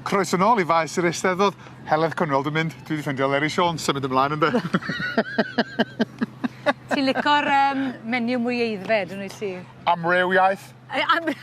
Croeso nôl i Faes yr Eisteddfod. Heledd Conwell dwi'n mynd. Dwi 'di ffindio Leri Siôn symud ymlaen ynde? Ti'n lico'r yym menu mwy aeddfed yn wyt ti? Amrywiaeth. Ei amry-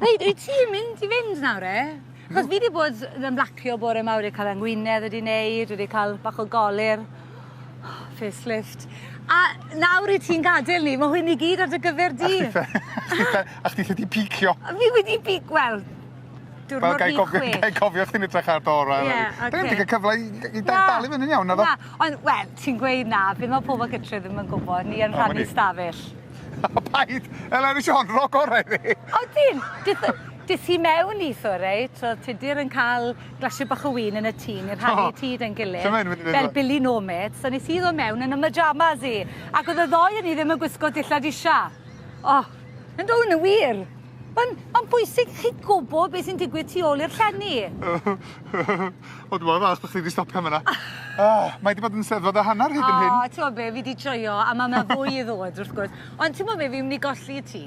Reit wyt ti'n mynd i fynd nawr 're? Achos fi 'di bod yn ymlacio bore 'ma wedi cael fy ngwinedd wedi neud wedi cael bach o golir. Facelift. A nawr i ti'n gadel ni ma' hwn i gyd ar dy gyfer di. A chdi ffel a chdi ffel di picio. A fi wedi pic- wel diwrnod fi chwech. Wel gai gofio gai gofio chdi'n edrach ar dy orau eleni. Ie oce. Dwi 'eb di ca'l cyfle i i da- dal i fyny'n iawn naddo? Na ond wel ti'n gweud na be' ma' pobol gytre ddim yn gwbo ni yn rhannu stafell. O paid! Eleni Siôn rho gore i fi. O ti'n! Dith y Des i mewn i thŷ reit, oedd Tudur yn cael glasio bach o win yn y tŷ, ni'n rhannu oh, tŷ da'n gilydd, so mynd fel fo. Billy Nomad, so nes i ddod mewn yn y myjamas i, ac oedd y ddoi yn i ddim yn gwisgo dillad isha. Oh. Yn dod yn y wir. Mae'n ma bwysig chi gwybod beth sy'n digwydd tu ôl i'r llenni. o, dwi'n meddwl fach bod chi wedi stopio yma. oh, mae wedi bod yn sefod a hanner hyd yn hyn. O, ti'n meddwl be, fi wedi joio, a mae yna fwy i ddod, wrth gwrs. Ond ti'n meddwl be, fi'n mynd i golli ti.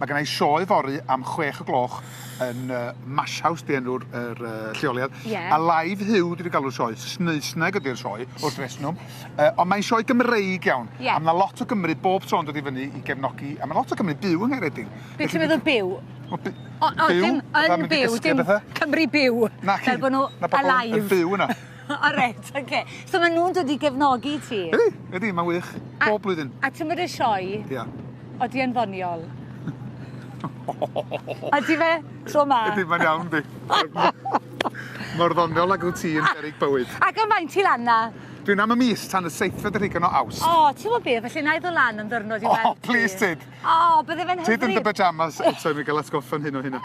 Mae gen i sioe fory am chwech o gloch yn yy Mash House 'di enw'r yr yy lleoliad. Ie. A live Huw dwi 'di galw'r sioe, Sneisneg ydi'r sioe wrth reswm yy ond mae'n sioe Gymreig iawn. Ie. A ma' 'na lot o Gymry bob tro'n dod i fyny i gefnogi a ma' lot o Gymry byw yng Nghaeredin. Be' ti'n meddwl byw? Wel by- O o dim yn byw dim Cymru byw. Naci. Fel bo' nw alive. Yn byw yna. O reit, oce. So ma' nhw'n dod i gefnogi ti? Ydi, ydi, ma'n wych. Bob blwyddyn. A t'mod y sioe? Ia. Odi e'n ddoniol? Ydi fe? Tro ma? Ydi, mae'n iawn, di. Mor ddoniol ag wyt ti yn berig bywyd. Ac am faint ti lan na? Dwi'n am y mis tan y seithfed ar hugain o Awst. O, ti'n gwybod be, felly na i ddod lan am ddiwrnod i weld ti. O, please tyd. O, bydde fe'n hyfryd. Tyd yn dy pyjamas eto i mi gael atgoffa'n hyn o hynna.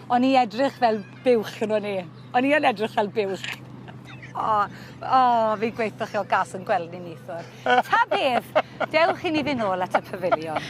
O'n i edrych fel Buwch gynno ni. O'n i yn edrych fel buwch. O, o, fi gweitho chi o gas yn gwely neithwr. Ta beth, dewch i ni fyn' nôl at y pafiliwn.